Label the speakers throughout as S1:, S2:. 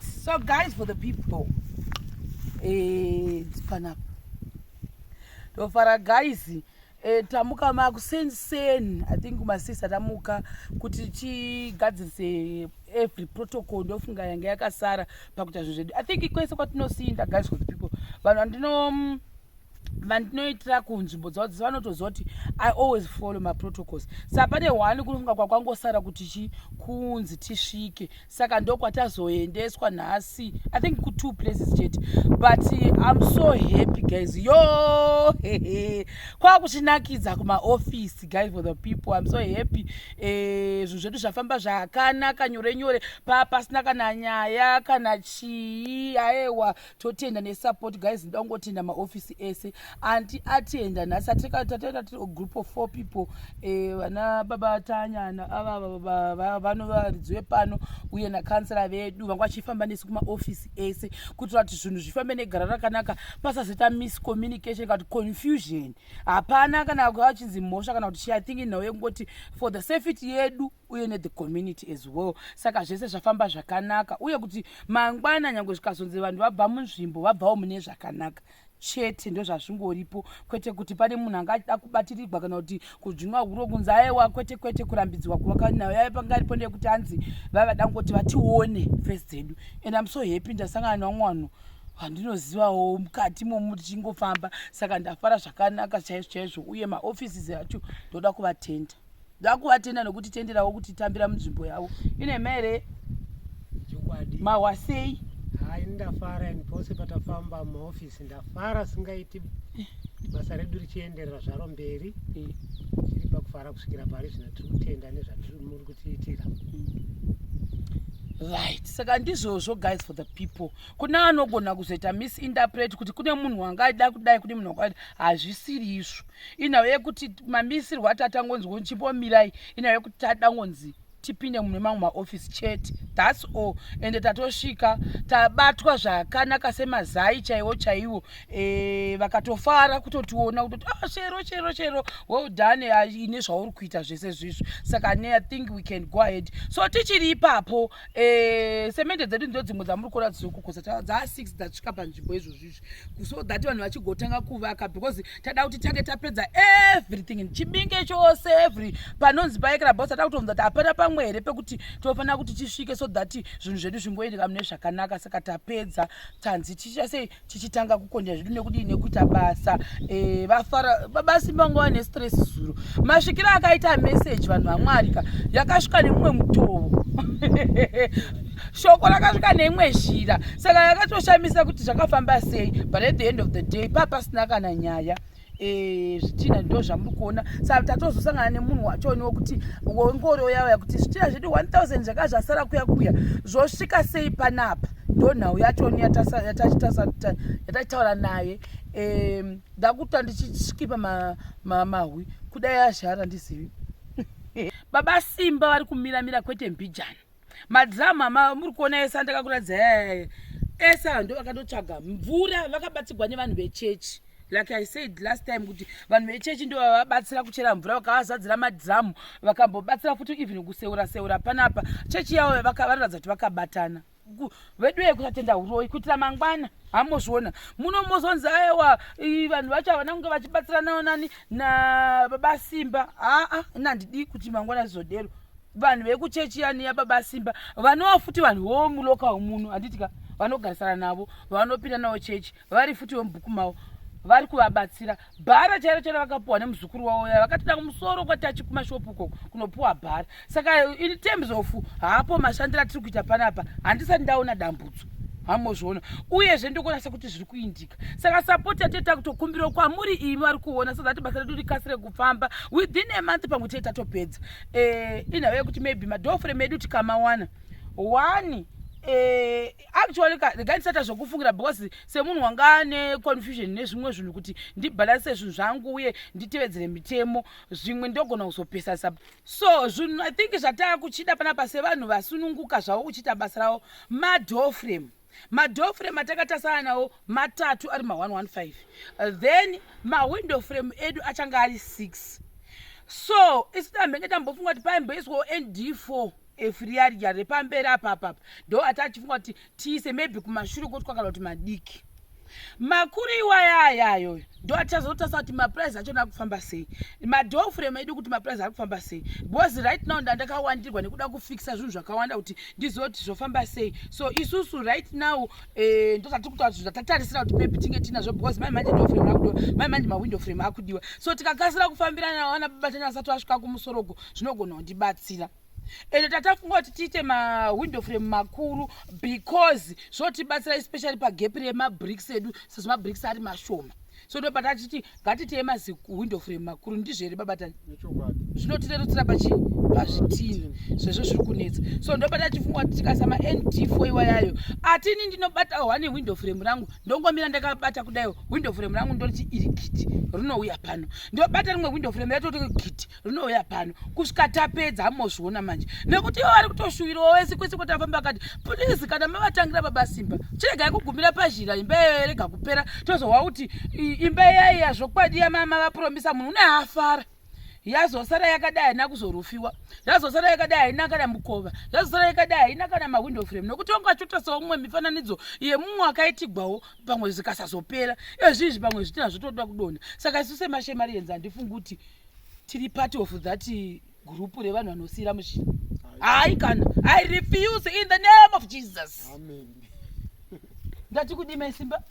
S1: so guys for the people eh, panapa ndofara guys eh, tamuka makuseni seni i think masisa tamuka kuti tichigadzirise every protocol ndofunga yange yakasara pakuita zvinhu zvedu i think kwese kwatinosinda guys for the people vanhu vandino mm, vandinoitira kunzvimbo dzavo dzese vanotoziva kuti i always follow maprotocols sa pane one kunofunga kwakwangosara kuti chi kunzi tisvike saka ndokwatazoendeswa nhasi i think kutwo places chete but im so happy guys yo hehe kwakuchinakidza kumaofisi guys for the people im so happy eh, zvinhu zvedu zvafamba zvakanaka nyore nyore paa pasina kana nyaya kana chii aewa totenda nesupport guys ndoda kungotenda maofisi ese anti atenda nhasi atikatatenda tiri group of four people eh, vana eh, baba tanyana ava vano varidzi vepano uye nakansela vedu vanga vachifamba nesu kumaofisi ese kuitira kuti zvinhu zvifambe negara rakanaka pasazoita miscommunication kana kuti confusion hapana kana vachinzi mhosva kana kuti chi i think nhau yekungoti for the safety yedu uye ne the community as well saka zvese zvafamba zvakanaka uye kuti mangwana nyange zvikazonzi vanhu vabva munzvimbo vabvawo mune zvakanaka chete ndozvazvingoripo kwete kuti pane munhu anga achida kubatirirwa kana kuti kudzvinwa huro kunzi aewa kwete kwete kurambidzwa kuvaka nayo yave panga aripo ndeyekuti hanzi vavada kungoti vatione face dzedu and im so happy ndasangana nevamwe vanhu vandinozivawo mukati momu tichingofamba saka ndafara zvakanaka chaizvo chaizvo uye maoffices acho ndoda kuvatenda ndakuvatenda nokuti tenderawo kuti tambira munzvimbo yavo ine mhere mahwasei hai ndafara
S2: and pose patafamba mumaofisi ndafara singaiti basa redu richienderera zvaro mberi eh. tiri pakufara kusvikira pari zvino tiri kutenda nezvatiri muri kutiitira
S1: right saka ndizvozvo guys for the people kune anogona kuzoita misinterpret kuti kune munhu wanga aida kudai kune munhu wakaita hazvisiri izvo inhau yekuti mamisirwo atatangonzi kunzi chimbomirai inhau yekuti tadangonzi tipinde mune mamwe maofisi chete thats all ende tatosvika tabatwa zvakanaka semazai chaiwo chaiwo e, vakatofara kutotiona kutoti ah, chero chero chero well done ah, ine zvauri kuita zvese zvizvo saka ne i think we can go ahead so tichiri ipapo e, semende dzedu ndo dzimwe dzamuri kuona dzizokukosa dzaa six dzasvika panzvimbo izvozvizvo so that vanhu vachigotanga kuvaka because tada kuti tange tapedza everything chibinge chose every panonzi paekrabos tada kutonza kuti hapana pamwe here pekuti tinofanira kuti tisvike so that zvinhu zvedu zvingoendeka mune zvakanaka saka tapedza tanzi tichiita sei tichitanga kukonja zvedu nekudii nekuita basa eh, vafara babasi mangova nestress zuro masvikiro akaita message vanhu vamwarika yakasvika nemumwe mutovo shoko rakasvika neimwe zhira saka yakatoshamisa kuti zvakafamba sei but at the end of the day paa pasina kana nyaya eh, zvitina ndo zvamuri kuona sa tatozosangana nemunhu wachoniwo kuti wengoro yauya kuti zvitina zvedu 1000 zvaka zvasara kuya kuya zvosvika sei panapa ndo nhau yachoni yatachitaura naye ndakuta ndichiskipa mahwi kudai azhara ndizivi baba simba vari kumiramira kwete mbijana madrama ma muri kuona ese andakakuratidza yayaye ese hando vakatotsvaga mvura vakabatsirwa nevanhu vechechi like i said last time kuti vanhu vechechi ndo vavabatsira kuchera mvura vakavazadzira madhiramu vakambobatsira futi even kuseura seura panapa chechi yavo vanoratidza kuti vakabatana veduye kusatenda uroyi kuitira mangwana hamozviona muno mozonzi aewa vanhu vacho havana kunge vachibatsiranawo nani nababa simba aa nandidii kuti mangwana zvizodero vanhu vekuchechi yani yababa simba vanowa futi vanhu vomulokawo muno handitika vanogarisana navo vanopinda nawo chechi vari futi vemubhuku mavo vari kuvabatsira bhara chairo chairo vakapuwa nemuzukuru wavo yaya vakatoda kumusoro kwatachi kumashopu uko kunopuwa bhara saka in terms of haapo mashandiro atiri kuita panapa handisati ndaona dambudzo hamozviona uyezve ndokunasa kuti zviri kuindika saka sapoti yatee takutokumbirawo kwamuri imi vari kuona so that basa redu rikasire kufamba within a month pamwe tee tatopedza eh, inhava yekuti maybe madofre medu tikamawana one eh, actually regai ndisata zvokufungira because semunhu wanga ane confusion nezvimwe zvinhu kuti ndibhalanse zvinhu zvangu uye nditevedzere mitemo zvimwe ndogona kuzopesasa so zvinhu i think zvataa kuchida panapa sevanhu vasununguka zvavo kuchiita basa ravo madoframe madoframe atakatasana nawo matatu ari ma115 uh, then mawindow frame edu achange ari 6 so isu tambenge tambofunga kuti paimboiswawo nd4 efuriarija repamberi apa apa apa ndo ati achifunga kuti tiise maybe kumashure koti kwakala kuti madiki makuru iwaya aya ayoyo ndo atichazotasa kuti mapurice achona akufamba sei madofrem edu kuti mapurice ari kufamba sei because right now ndandakawandirwa nekuda kufikisa zvinhu zvakawanda kuti ndizive kuti zvofamba sei so isusu right now eh, ndo zvatiri kutaura kuti zvatatarisira kuti maybe tinge tinazvo because mai manje dofrem akudiwa mai manje mawindow frem akudiwa so tikakasira kufambirana nawana babatanya asati asvika kumusorogo zvinogona kundibatsira ende tatafunga kuti tiite mawindow frame makuru because zvotibatsira especially pagepi remabricks edu sezvo mabricks ari mashoma so ndo patachiti ngatiteye maziwindow frame makuru ndizvo here babatani zvinotirerutsira pachi pazvitini zvezvo zviri kunetsa so ndo patachifunga kuti tikasa mand fo iwa yayo atini ndinobata one window frame rangu ndongomira ndakabata kudaio window frame rangu ndoriti iri giti rinouya pano ndobata rimwe window frame ratoti giti rinouya pano kusvika tapedza amozviona manje nekuti ivo vari kutoshuwirawo wese kwese kwatafamba akati please kana mavatangira baba simba chiregai kugumira pazhira imba iyoyo yarega kupera tozohwa kuti imba iyaiya zvokwadi yamama vapuromisa munhu une hafara yazosara yakadai haina kuzorufiwa yazosara yakadai haina kana mukova yazosara yakadai haina kana mawindow frame nokuti wanga achiotasawo mumwe mifananidzo yemumwe akaitigwawo pamwe zvikasazopera ezvizvi pamwe zvitina zvotoda kudonha saka isu semashemari yenzi handifungi kuti tiri part of that group revanhu vanosiyira muzvi hayi kana i refuse in the name of jesus ndati kudima isimba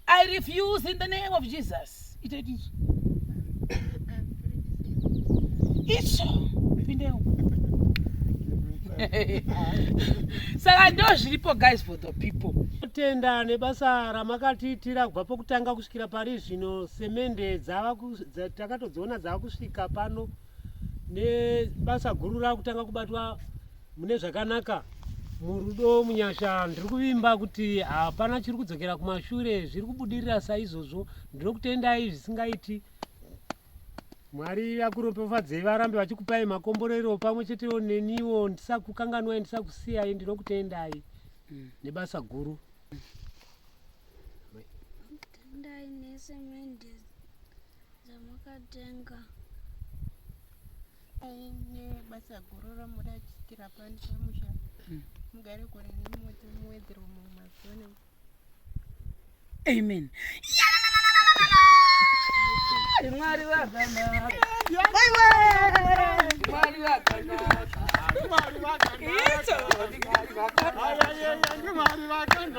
S1: i refuse in the name of jesus itaiti izvo izvo pindeu saka ndo zviripo guys for the people tenda nebasa
S2: ramakatiitira kubva pokutanga kusvika Kusvikira pari zvino semende takatodziona dzava kusvika pano nebasa guru rakutanga kubatwa mune zvakanaka murudo munyasha ndiri kuvimba kuti hapana chiri kudzokera kumashure zviri kubudirira saizvozvo ndinokutendai zvisingaiti mwari akuropefadzei varambe vachikupai makomborero pamwe chetewo neniwo ndisakukanganwai ndisakusiyai ndinokutendai mm. nebasa guru
S3: Tendai nesemende dzamakatenga
S4: nebasa guru ramuda chiitira pani pamusha hmm. mugare gore nemoto muwedzerwe mumwe mazuva ne
S1: amen mwari vakanaka mwari vakanaka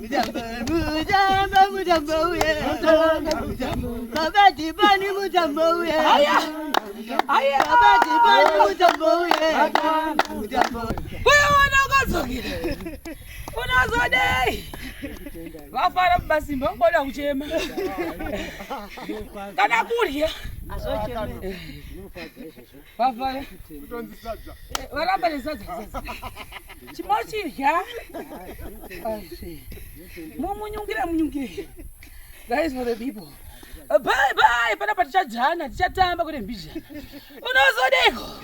S5: unazodei
S1: vafara mubasimba vangoda kuchema kana kurya Vavaya. Kutonzi sadza. Eh, Varamba nesadza sadza. Chimochirya. Asi. Mumunyungire munyungire. That is for the people. Uh, Bye bye panapa tichajana tichatamba kune mbizha. Unozodeko.